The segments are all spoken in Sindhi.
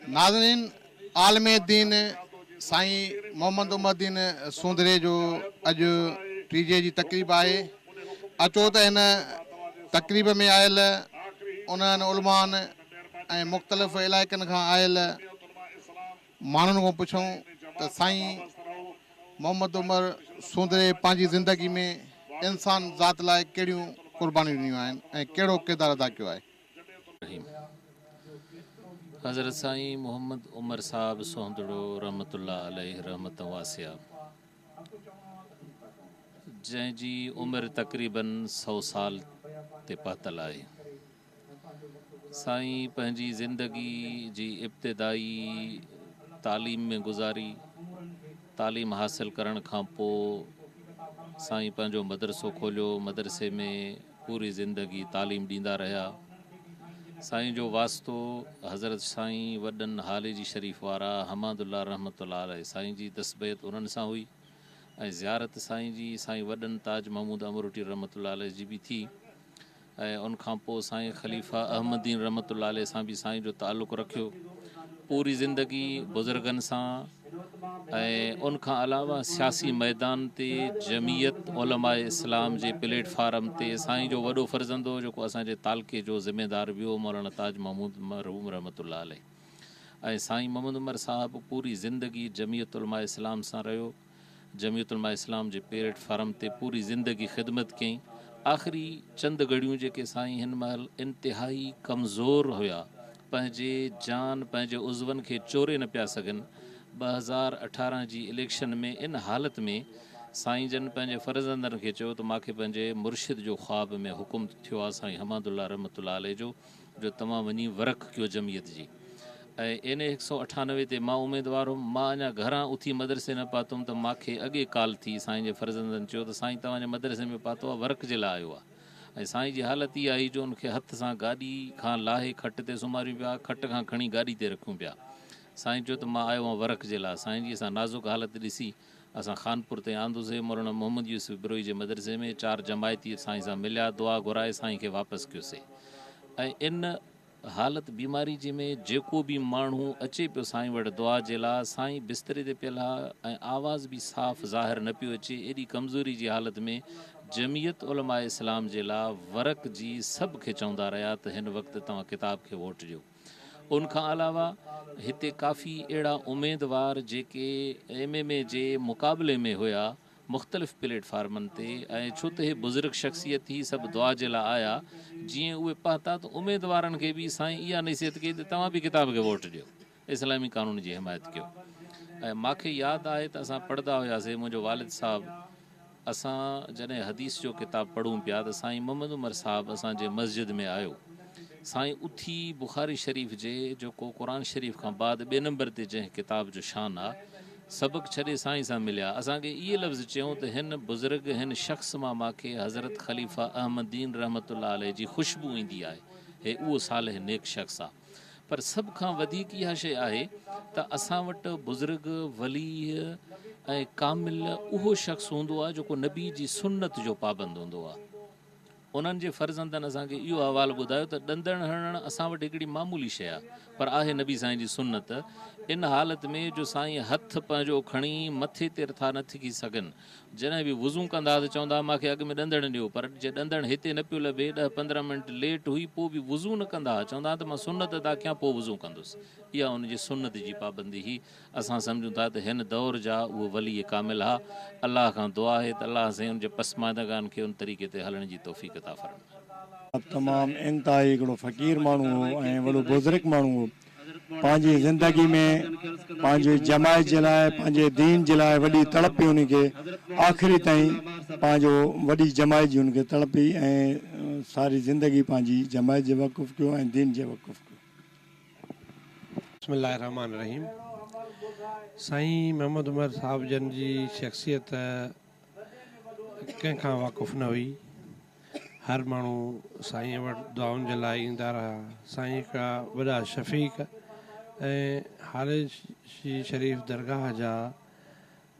ناظرين عالم دين سائين محمد عمر دين سوندري جو اڄ ٽيجهي جي تقريب آهي اچو ته هن تقريب ۾ آيل انهن علمائن ۽ مختلف علائقن کان آيل ماڻهن کان پڇيون ته سائين محمد عمر سوندري پنهنجي زندگي ۾ انسان ذات لاء ڪهڙيون قربانيون ڏنيون آهن ۽ ڪهڙو ڪردار ادا ڪيو آهي؟ رحيم حضرت سائين محمد عمر صاحب سوندڙو رحمة الله عليه رحمة واسعة جنهن جي عمر تقريبن سئو سال تي پهتل آهي. سائين پنهنجي زندگي جي ابتدائي تعليم ۾ گذاري. تعليم حاصل ڪرڻ کان پوء سائين پنهنجو مدرسو کوليو. مدرسي ۾ پوري زندگي تعليم ڏيندا رهيا. سائين جو واسطو حضرت سائين وڏن هاليجي شريف وارا حماد الله رحمة الله عليه سائين جي دستبيت انهن سان هئي ۽ زيارت سائين جي سائين وڏن تاج محمود امروٽي رحمة الله عليه جي به ٿي. ۽ ان کان پوء سائين خليفه احمدين رحمة الله عليه سان به سائين جو تعلق رکيو. پوري زندگي بزرگن سان ۽ ان کان علاوه سياسي ميدان تي جمعيت علماء اسلام جي پليٽ فارم تي سائين جو وڏو فرزند هو جيڪو اسان جي تعلقي جو ذميدار به هو مولانا تاج محمود مرحوم رحمة الله عليه ۽ سائين محمد عمر صاحب پوري زندگي جمعيت علماء اسلام سان رهيو. جمعيت علماء اسلام جي پيرٽ فارم تي پوري زندگي خدمت ڪيائين. آخري چند گهڙيون جيڪي سائين هن مهل انتهائي ڪمزور هيا، پنهنجي جان پنهنجي عضون کي چوري نه پيا سگهن. ٻه هزار اٺارهن جي اليڪشن ۾ ان حالت ۾ سائين جن پنهنجي فرزندن کي چيو ته ماکي پنهنجي مرشد جو خواب ۾ حڪم ٿيو آ سائين حمادالله رحمة الله عليه جو جو توهان وڃي ورڪ ڪيو جمعيت جي ۽ اين اي هڪ سؤ اٺانوي تي مان اميدوار هيم مان اڃا گهران اٿي مدرسي نه پاتوم ته ماکي اڳي ڪال ٿي سائين جي فرزندن چيو ته سائين توهان جي مدرسي ۾ پاتو آ ورڪ جي لاء آيو آ ۽ سائين جي حالت اها هئي جو ان کي هٿ سان گاڏي کان لاهي کٽ تي سماريون پيا کٽ کان کڻي گاڏي تي رکيون پيا سائين چيو ته مان آيو آ ورڪ جي لاء سائين جي سا نازڪ حالت ڏسي اسان خانپور تائين آندوسي، مولانا محمد يوسف بروهي جي مدرسي ۾ چار جماعتي سائين سان مليا، دعا گهرائي سائين کي واپس ڪيوسي ۽ ان حالت بيماري جي ۾ جيڪو به ماڻهو اچي پيو سائين وٽ دعا جي لاء، سائين بستري تي پيل ها ۽ آواز به صاف ظاهر نه پيو اچي، ايڏي ڪمزوري جي حالت ۾ جمعيت علماء اسلام جي لا ورڪ جي سڀ کي چوندا رهيا ته هن وقت توهان ڪتاب کي ووٽ ڏيو. ان کان علاوه هتي ڪافي اهڙا اميدوار جيڪي ايم ايم اي جي مقابلي ۾ هيا مختلف پليٽ فارمن تي ۽ ڇو ته هي بزرگ شخصيت هي سڀ دعا جي لا آيا جيئن اهي پهتا ته اميدوارن کي به سائين اها نصيحت ڪئي ته توهان به ڪتاب کي ووٽ ڏيو اسلامي قانون جي حمايت ڪيو ۽ ماکي ياد آهي ته اسان پڙهدا هياسي منهنجو والد صاحب اسان جڏهن حديث جو ڪتاب پڙهون پيا ته سائين محمد عمر صاحب اسان جي مسجد ۾ آيو. سائين اٿي بخاري شريف جي جيڪو قرآن شريف کان بعد ٻئي نمبر تي جنهن ڪتاب جو شان آ، سبق ڇڏي سائين سان مليا. اسان کي اهي لفظ چيائون ته هن بزرگ، هن شخص مان ماکي حضرت خليفه احمدين رحمة الله عليه جي خوشبو ايندي آهي. هي اهو صالح نيڪ شخص آ. پر سڀ کان وڌيڪ اها شيء آهي ته اسان وٽ بزرگ، ولي ۽ ڪامل اهو شخص هوندو آهي جيڪو نبي جي سنت جو پابند هوندو آهي. انهن جي فرزندن اسان کي اهو احوال ٻڌايو ته ڏندڻ هڻڻ اسان وٽ هڪڙي معمولي شيء آهي پر آهي نبي سائين جي سنت ان حالت ۾ جو سائين هٿ پنهنجو کڻي مٿي تي رٿا نه ٿڪي سگهن جڏهن به وضو ڪندا ته چوندا ها مان کي اڳ ۾ ڏندڻ ڏيو پر جي ڏندڻ هتي نه پيو لڀي ڏهه پندرهن منٽ ليٽ هئي پوء به وضو نه ڪندا ها چوندا ها ته مان سنت ادا ڪيان پوء وضو ڪندس اها ان جي سنت جي پابندي هئي اسان سمجهون ٿا ته هن دور جا اهي ولي ڪامل ها الله کان دعا آهي ته الله سائين ان جي پسماندگان کي ان طريقي تي هلڻ جي توفيق عطا فرمائي. تمام انتهائي هڪڙو فقير ماڻهو هو ۽ وڏو بزرگ ماڻهو هو. پنهنجي زندگي ۾ پنهنجي جماعت جي لاء پنهنجي دين جي لاء وڏي تڙپ هئي ان کي آخري تائين پنهنجو وڏي جماعت جي ان کي تڙپ هئي ۽ ساري زندگي پنهنجي جماعت جي وقف ڪيو ۽ دين جي وقف ڪيو. بسم الله الرحمٰن الرحيم سائين محمد عمر صاحب جن جي شخصيت ڪنهن کان واقف نه هئي. هر ماڻهو سائينء وٽ دعائن جي لاء ايندا رهيا. سائين هڪڙا وڏا شفيق ۽ هاريشي شريف درگاهه جا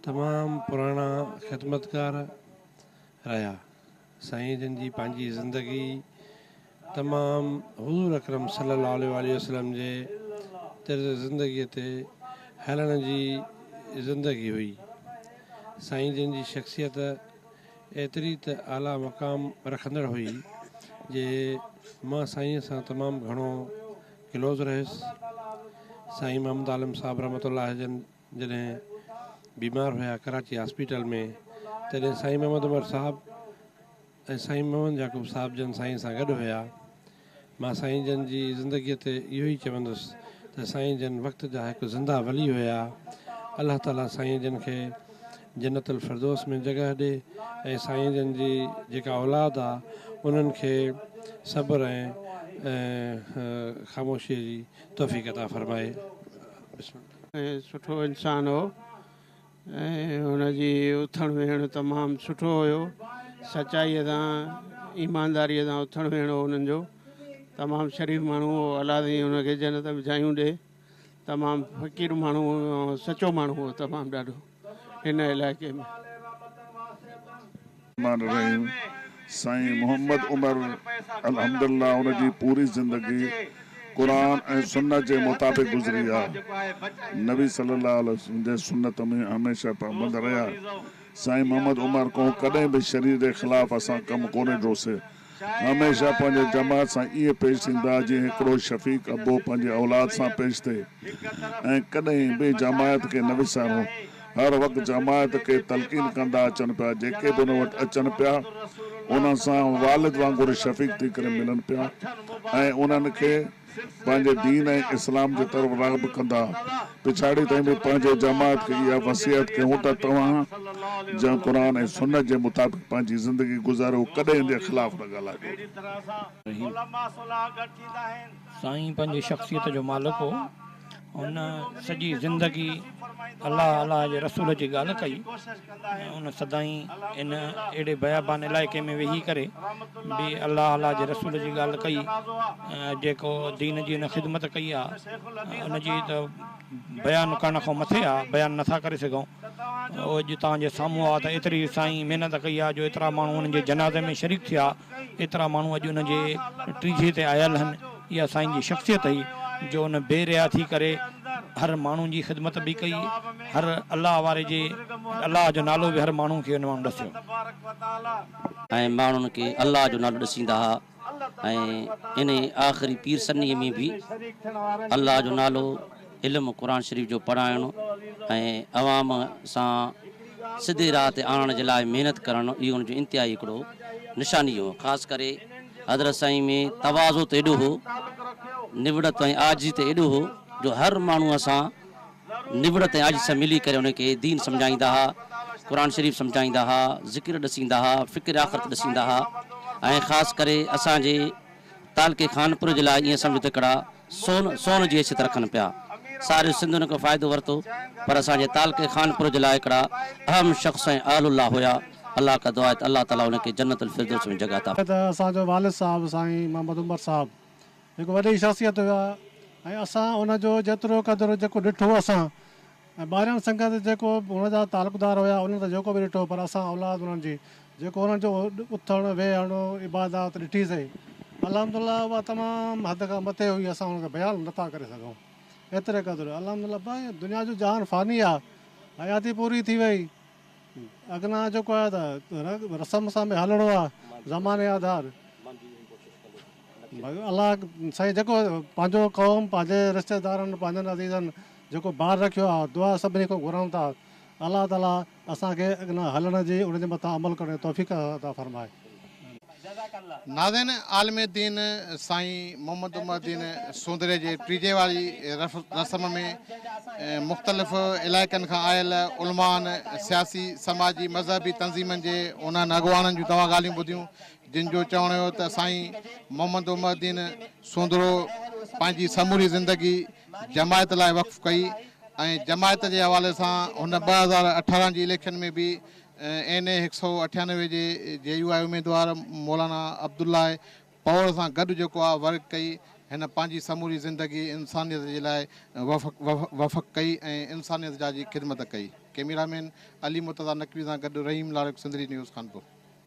تمام پراڻا خدمتگار رهيا. سائين جن جي پنهنجي زندگي تمام حضور اڪرم صلي الله عليه واٰله وسلم جي طرز زندگي تي هلڻ جي زندگي هئي. سائين جن جي شخصيت ايتري ته اعليٰ مقام رکندڙ هئي جي مان سائين سان تمام گهڻو ڪلوز رهيس. سائين محمد عالم صاحب رحمة الله جن جڏهن بيمار هيا ڪراچي هاسپيٽل ۾ تڏهن سائين محمد عمر صاحب ۽ سائين محمد يعقوب صاحب جن سائين سان گڏ هيا. مان سائين جن جي زندگيء تي اهو ئي چوندس ته سائين جن وقت جا هڪ زنده ولي هيا. الله تعاليٰ سائين جن کي جنت الفردوس ۾ جڳهه ڏي ۽ سائين جن جي جيڪا اولاد آ انهن کي صبر ۽ خاموشيء جي توفيق عطا فرمائي. بسم الله. ۽ سٺو انسان هو ۽ هن جي اٿڻ ويهڻ تمام سٺو هيو سچائي سان ايمانداري سان اٿڻ ويهڻ هو انهن جو تمام شريف ماڻهو هو الله سائين هن کي جنت وجھايون ڏي تمام فقير ماڻهو سچو ماڻهو هو تمام ڏاڍو هن علائقي ۾. مان رهيون. سائين محمد عمر الحمدالله ان جي پوري زندگي قرآن ۽ سنت جي مطابق گذري آ. نبي صلي الله عليه وسلم جي سنت ۾ هميشه پابند رهيا. سائين محمد عمر ڪون ڪڏهن به شريعت جي خلاف اسان ڪم ڪونهي ڊوسي. هميشه پنهنجي جماعت سان ائين پيش ٿيندا جيئن هڪڙو شفيق ابو پنهنجي اولاد سان پيش ٿئي ۽ ڪڏهن به جماعت کي نه وساريو هر وقت جماعت کي تلقين ڪندا اچن پيا جيڪي به ان وٽ اچن پيا انهن سان والد وانگر شفيق ٿي ڪري ملن پيا ۽ انهن کي پنهنجي دين ۽ اسلام جي طرف راغب ڪندا، پڇاڙي تائين به پنهنجي جماعت کي اها وصيحت ڪيون ته توهان جنهن قرآن ۽ سنت جي مطابق پنهنجي زندگي گذاريو ڪڏهن ان جي خلاف نه ڳالهائجو. سائين پنهنجي شخصيت جو مالڪ هو. هن سڄي زندگي الله الله جي رسول جي ڳالهه ڪئي ۽ هن سدائين ان اهڙي بيابان علائقي ۾ ويهي ڪري به الله الله جي رسول جي ڳالهه ڪئي ۽ جيڪو دين جي هن خدمت ڪئي آهي ان جي ته بيان ڪرڻ کان مٿي آهي بيان نٿا ڪري سگهون اهو اڄ توهان جي سامهون آهي ته ايتري سائين محنت ڪئي آهي جو ايترا ماڻهو هن جي جنازي ۾ شريڪ ٿيا ايترا ماڻهو اڄ ان جي ٽيجهي تي آيل هن. اها سائين جي شخصيت هئي جو ان بي ريا ٿي ڪري هر ماڻهو جي خدمت به ڪئي هر الله واري جي الله جو نالو به هر ماڻهو کي ان ماڻهو ڏسيو. ۽ ماڻهن کي الله جو نالو ڏسيندا ها ۽ انهي آخري پير سني ۾ به الله جو نالو علم قرآن شريف جو پڙهائڻ ۽ عوام سان سڌي راهه تي آڻڻ جي لاء محنت ڪرڻ اهو ان جو انتهائي هڪڙو نشاني هو خاص ڪري حضرت سائين ۾ تواضع ته ايڏو هو نوڙت ۽ عاجزي ته ايڏو هو جو هر ماڻهو سان نوڙت ۽ عاجزي سان ملي ڪري ان کي دين سمجهائيندا ها قرآن شريف سمجهائيندا ها ذڪر ڏسيندا ها فڪر آخرت ڏسيندا ها ۽ خاص ڪري اسان جي تعلقي خانپور جي لاء ائين سمجهه ته هڪڙا سون سون جي اچت رکن پيا. ساريون سنڌ ان کان فائدو ورتو پر اسان جي تعلقي خانپور جي لاء هڪڙا اهم شخص ۽ اهل الله هيا. الله ڪا دعا هي ته الله تعالي انهن کي جنت الفردوس ۾ جڳهه عطا فرمائي. ته اسان جو والد صاحب سائين محمد عمر صاحب هڪ وڏي شخصيت هيا ۽ اسان ان جو جيترو قدر جيڪو ڏٺو اسان ۽ ٻاهريان سنگت جيڪو هن جا تعلقدار هيا انهن ته جيڪو به ڏٺو پر اسان اولاد انهن جي جيڪو انهن جو اٿڻ ويهڻ عبادات ڏٺي سئي الحمدالله اها تمام حد کان مٿي هئي اسان ان کي بيان نٿا ڪري سگهون ايتري قدر الحمدالله دنيا جو جهان فاني آهي حياتي پوري ٿي وئي. اڳنا جيڪو آهي ته رنگ رسم سان به هلڻو آهي زماني آڌار الله سائين جيڪو پنهنجو قوم پنهنجي رشته دارن پنهنجن عزيزن جيڪو بار رکيو آهي دعا سڀني کان گهرون ٿا الله تعالي اسان کي اڳنا هلڻ جي ان جي مٿان عمل ڪرڻ جي توفيق عطا فرمائي. جزاڪ الله. ناظرين عالم دين سائين محمد عمر الدين سوندري جي ٽيجهي واري رسم ۾ مختلف علائقن کان آيل علمائن، سياسي، سماجي، مذهبي تنظيمن جي انهن اڳواڻن جون توهان ڳالهيون ٻڌيون جن جو چوڻ هيو ته سائين محمد عمر الدين سوندرو پنهنجي سموري زندگي جماعت لاء وقف ڪئي ۽ جماعت جي حوالي سان هن ٻه هزار اٺارهن جي اليڪشن ۾ به اين اي هڪ سؤ اٺيانوي جي جي يو آء اميدوار مولانا عبدالله پوڙ سان گڏ جيڪو آء ورڪ ڪئي، هن پنهنجي سموري زندگي انسانيت جي لاء وفق ڪئي ۽ انسانيت جا جي خدمت ڪئي. ڪئميرا مين علي مرتضيٰ نقوي سان گڏ رحيم لاڙڪ سنڌڙي نيوز خانپور.